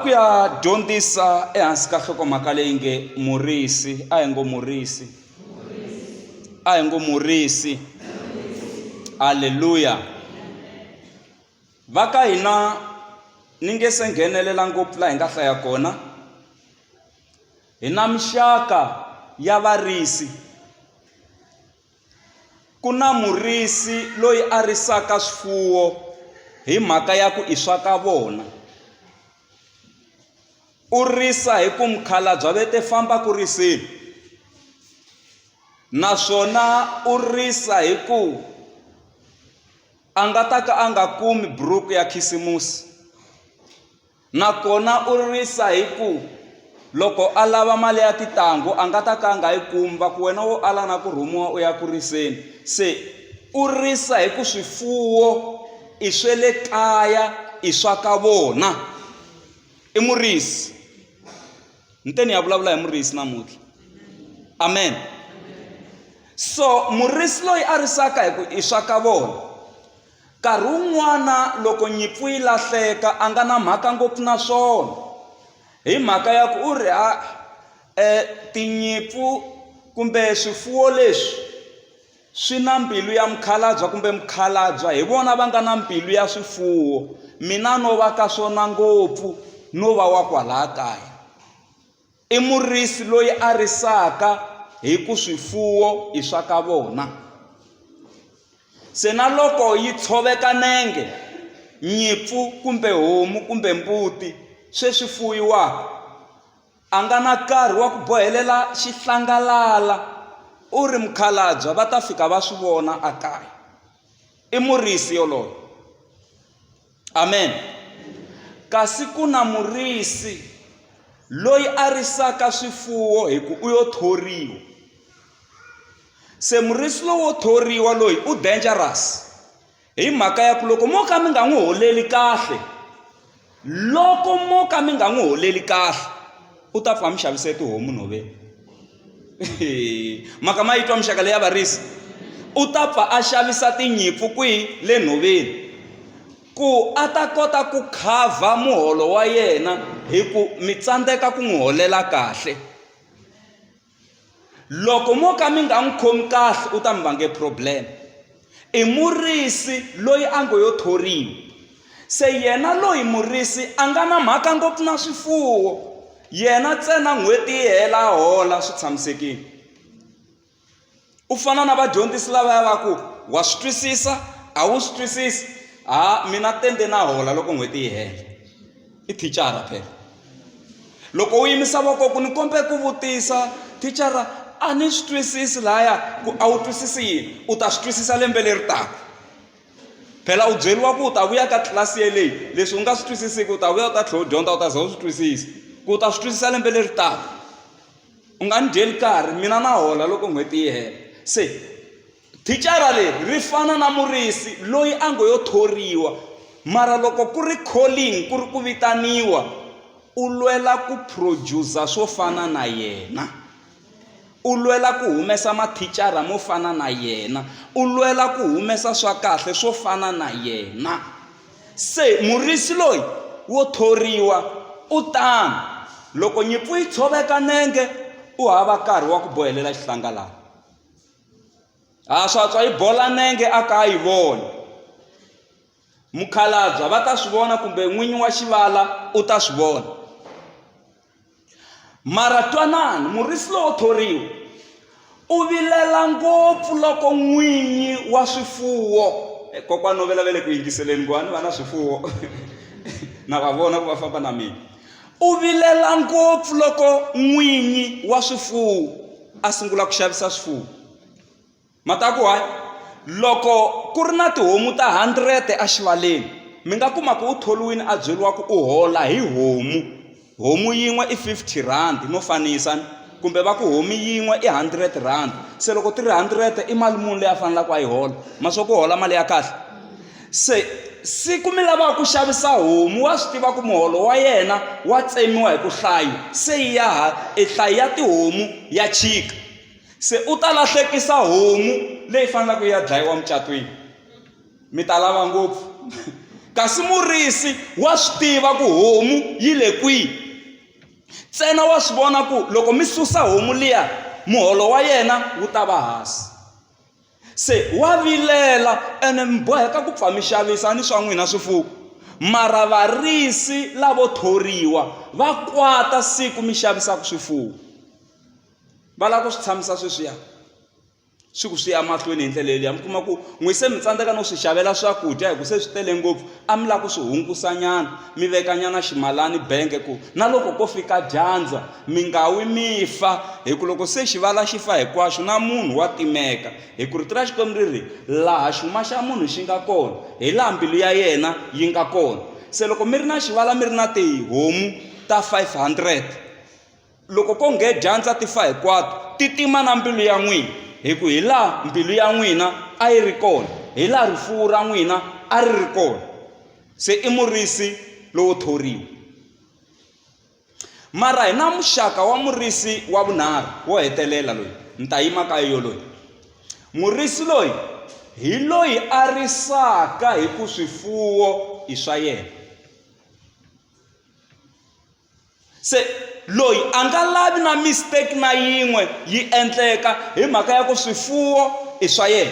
ku ya dyondzisa ehansi ka nhlokomhaka leyi nge murisi a hi ngo murisi a hi ngo murisi halleluya va ka hina ni nge se nghenelela ngopfu laha hi nga hlaya kona hi na mixaka ya varisi Ku na murisi loyi a risaka swifuwo hi mhaka ya ku i swa ka vona. U risa hi ku mukhalabye va te famba ku riseni. Naswona u risa hi ku a nga ta ka a nga kumi buruku ya khisimusi. Nakona u ririsa hi ku, Loko a lava mali ya titanghu, a nga ta ka a nga yi kumi, va ku, Wena wo ala na ku rhumiwa u ya ku riseni. Se u ririsa hi ku swifuwo i swa le kaya, i swa ka vona. I murisi. Ni te ni ya vulavula hi murisi namuntlha. Amen. So murisi loyi a risaka hi ku i swa ka vona. Nkarhi wun'wana loko nyimpfu yi lahleka a nga na mhaka ngopfu na swona hi mhaka ya ku u ri ha tinyimpfu kumbe swifuwo leswi swi na mbilu ya mukhalabye kumbe mukhalabye hi vona va nga na mbilu ya swifuwo mina no va ka swona ngopfu no va wa kwalaya kaya. I murisi loyi a risaka hi ku swifuwo i swa ka vona. Se na loko yi tshoveka nenge, nyipfu kumbe homu kumbe mbuti swe swi fuyiwaka, a nga na karhi wa ku bohelela xihlangalala u ri mukhalabya va ta fika va swi vona a kaya. I murisi yoloye. Amen. Kasi ku na murisi loyi a risaka swifuwo hi ku u yo thoriwa. Se murisi lowo thoriwa loyi u dangerous hi mhaka ya ku loko mo ka mi nga n'wi holeli kahle loko mo ka mi nga n'wi holeli kahle u ta pfa a mi xavisela tihomu nhoveni. mhaka ma yi twa muxaka leyi ya varisi u ta pfa a xavisa tinyimpfu kwihi le nhoveni ku a ta kota ku khavha muholo wa yena hi ku mi tsandzeka ku n'wi holela kahle loko mo ka mi nga n'wi khomi kahle u ta mi vange problem I murisi loyi a ngo yo thoriwa. Se yena loyi murisi a nga na mhaka ngopfu na swifuwo, yena ntsena n'hweti yi hela a hola swi tshamisekile. U fana na vadyondzisi lavaya va ku, wa swi twisisa, a wu swi twisisi, ha mina tende na hola loko n'hweti yi hela. i thicara phela loko u yimisa voko ku ni kombe ku vutisa thicara a ni swi twisisi lahaya ku a wu twisisi yini u ta swi twisisa lembe leri taka phela u byeriwa ku u ta vuya ka tlilasi yeleyi leswi u nga swi twisisiki u ta vuya u ta tlhela u dyondza u ta za u swi twisisa ku u ta swi twisisa lembe leri taka u nga ni dyeli karhi mina na hola loko n'hweti yi hela se Thicara leri ri fana na murisi loyi a ngo yo thoriwa, mara loko ku ri calling, ku ri ku vitaniwa, u lwela ku producer swo fana na yena. U lwela ku humesa mathicara mo fana na yena. U lwela ku humesa swa kahle swo fana na yena. Se murisi loyi wo thoriwa u tano, loko nyimpfu yi tshoveka nenge, u hava nkarhi wa ku bohelela xihlangalana. ha swa tswa yi bola nenge a ka yi voni mukhalabya va ta swi vona kumbe n'winyi wa xivala u ta swi vona mara twanani murisi lowo thoriwa u vilela ngopfu loko n'winyi wa swifuwo eh, kokwana no vela ve le ku yingiseleni ku va ni va na swifuwo na va vona ku va famba na mina U vilela ngopfu loko n'winyi wa swifuwo a sungula ku xavisa swifuwo. Mataku hayi loko ku ri na tihomu ta hundred exivaleni mi nga kuma ku u tholiwini a byeriwa ku u hola hi homu homu yin'we i fifty rand no fanisa ni kumbe va ku homu yin'we i hundred rand se loko ti ri hundred i mali muni leyi a faneleke a yi hola ma swa ku hola mali ya kahle. Se, siku mi lavaka ku xavisa homu wa swi tiva ku muholo wa yena wa tsemiwa hi ku hlayo se yi ya ha e hlayo ya tihomu ya chika se u ta lahlekisa homu leyi fanelaka yi ya dlayiwa mucatwini mi ta lava ngopfu kasi murisi wa swi tiva ku homu yi le kwihi ntsena wa swi vona ku loko mi susa homu liya muholo wa yena wu ta va hansi Se wa vilela ene mi boheka ku pfa mi xavisa ni swa n'wina swifuwo. Mara varisi lavo thoriwa va kwata siku mi xavisaka swifuwo. Va lava ku swi tshamisa sweswiya, swi ku swi ya mahlweni hi ndlela yeleyo. Mi kuma ku n'wina se mi tsandzeka no swi xavela swakudya hikuva se swi tele ngopfu. A mi lava ku swi hunkusanyana, mi vekanyana ximalani benge ku na loko ko fika dyandza, mi nga wi mi fa, hi ku loko se xivala xi fa hinkwaxo, na munhu wa timeka. Hi ku Rito ra Xikwembu ri ri, Laha xuma xa munhu xi nga kona, hi laha mbilu ya yena yi nga kona. Se loko mi ri na xivala mi ri na tihomu ta 500, loko ko nghena dyandza ti fa hinkwato ti tima na mbilu ya n'wina hi ku hi laha mbilu ya n'wina a yi ri kona hi laha rifuwo ra n'wina a ri ri kona se i murisi lowo thoriwa mara hi na muxaka wa murisi wa vunharhu wo hetelela loyi ni ta yima ka yo loyi murisi loyi hi loyi a risaka hi ku swifuwo i swa yena se loyi a nga lavi na mistake na yin'we yi endleka hi mhaka ya ku swifuwo i swa yena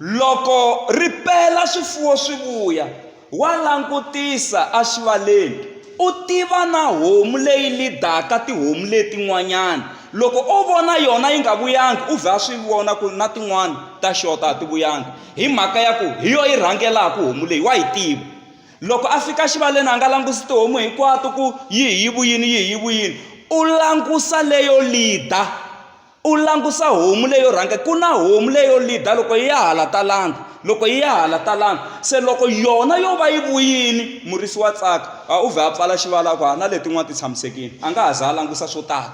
loko ri pela swifuwo swi vuya wa langutisa exivaleni u tiva na homu leyi lidaka tihomu letin'wanyana loko o vona yona yi nga vuyangi u vhe a swi vona ku na tin'wana ta xota a ti vuyangi hi mhaka ya ku hi yo yi rhangelaka homu leyi wa yi tiva loko a fika xivaleni a nga langusi tihomu hinkwato ku yi hi vuyini yi hi vuyini u langusa leyo lida u langusa homu leyo rhanga ku na homu leyo lida loko yi ya hala talanga loko yi ya hala talanga se loko yona yo va yi vuyini murisi wa tsaka a u vhe a pfala xivala ku ha na letin'wana ti tshamisekile a nga ha za a langusa swo tala.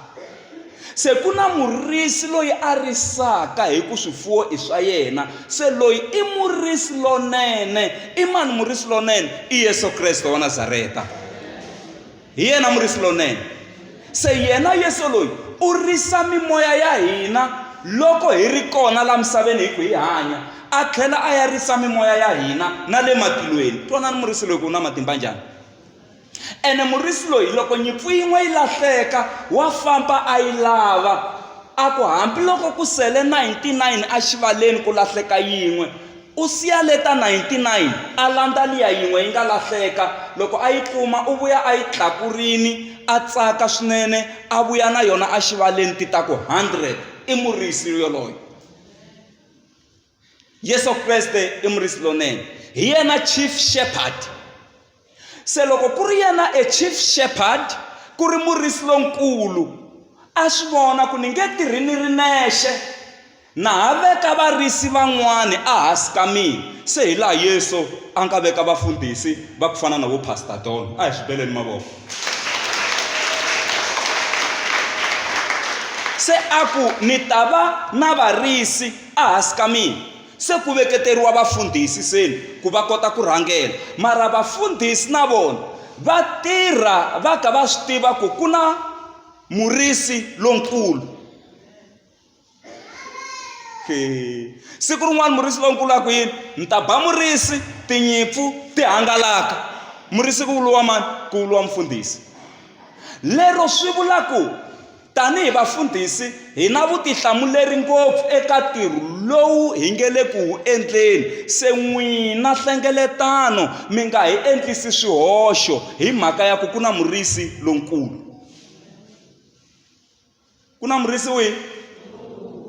Se ku na murisi loyi a risaka hi ku swifuwo i swa yena. Se loyi i murisi lonene. I mani murisi lonene? I Yesu Kreste wa Nazareta. Hi yena murisi lonene. Se yena Yesu loyi u risa mimoya ya hina loko hi ri kona la misaveni hi ku hi hanya a tlhela a ya risa mimoya ya hina na le matilweni twanani murisi loyi ku u na matimba njhani Ene murisi loyi, loko nyimpfu yin'we yi lahleka, wa famba a yi lava, a ku hambiloko ku sele 99 exivaleni ku lahleka yin'we, u siya le ta 99, a landza liya yin'we yi nga lahleka. Loko a yi kuma, u vuya a yi tlakurile, a tsaka swinene, a vuya na yona exivaleni, ti ta ku 100. I murisi yoloye. yesu kreste i murisi lonene hi yena chief shepherd se loko ku ri yena e chief shepherd ku ri murisi lonkulu a swi vona ku ni nge tirhi ni ri nexe na ha veka varisi van'wani ehansi ka mina se hi laha yesu a nga veka vafundhisi va ku fana na vo pastor don a hi swi beleni mavoko se a ku ni ta va na varisi Ehansi ka mina se ku veketeriwa vafundhisi seni ku va kota ku rhangela, mara vafundhisi na vona va tirha va ka va swi tiva ku ku na murisi lonkulu. Siku rin'wana murisi lonkulu a ku yini? Ni ta ba murisi, tinyimpfu ti hangalaka. Murisi ku vuriwa mani? Ku vuriwa mufundhisi. Lero swi vula ku. Tanihi vafundhisi, hi na vutihlamuleri ngopfu eka ntirho lowu hi nge le ku wu endleni. Se n'wina hlengeletano mi nga hi endlisi swihoxo hi mhaka ya ku ku na murisi lonkulu. Ku na murisi wihi?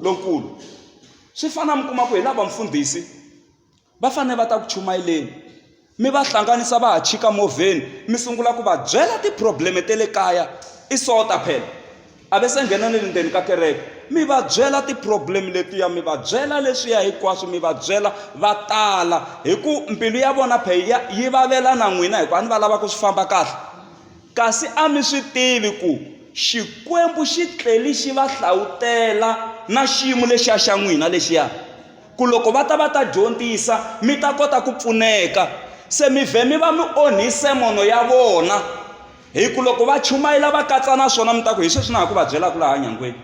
Lonkulu. Swi fana mi kuma ku hi lava mufundhisi va fanele va ta ku chumayeleni mi va hlanganisa va ha chika movheni mi sungula ku va byela ti-problem-e ta le kaya i sota phela a ve se nghena na le ndzeni ka kereke mi va byela ti-problem letiya mi va byela leswiya hinkwaswo mi va byela va tala hi ku mbilu ya vona phela yi vavela na n'wina hikuva a ni va lava ku swi famba kahle kasi a mi swi tivi ku xikwembu xi tleli xi va hlawutela na xiyimo lexiya xa n'wina lexiya ku loko va ta va ta dyondzisa mi ta kota ku pfuneka se mi vhe mi va mi onhise mono ya vona hi ku loko va chumayela va katsa na swona mi ta ku hi sweswi na ha ku va byelaka laha nyangweni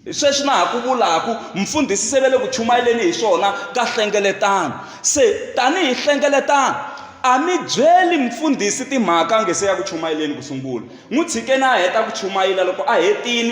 hi sweswi na ha ku vulaku mfundhisi se ve le ku chumayeleni hi swona ka hlengeletano se tanihi hlengeletano a mi byeli mfundhisi timhaka a nge se ya ku chumayeleni ku sungula n'wi tshikeni a heta ku chumayela loko a hetile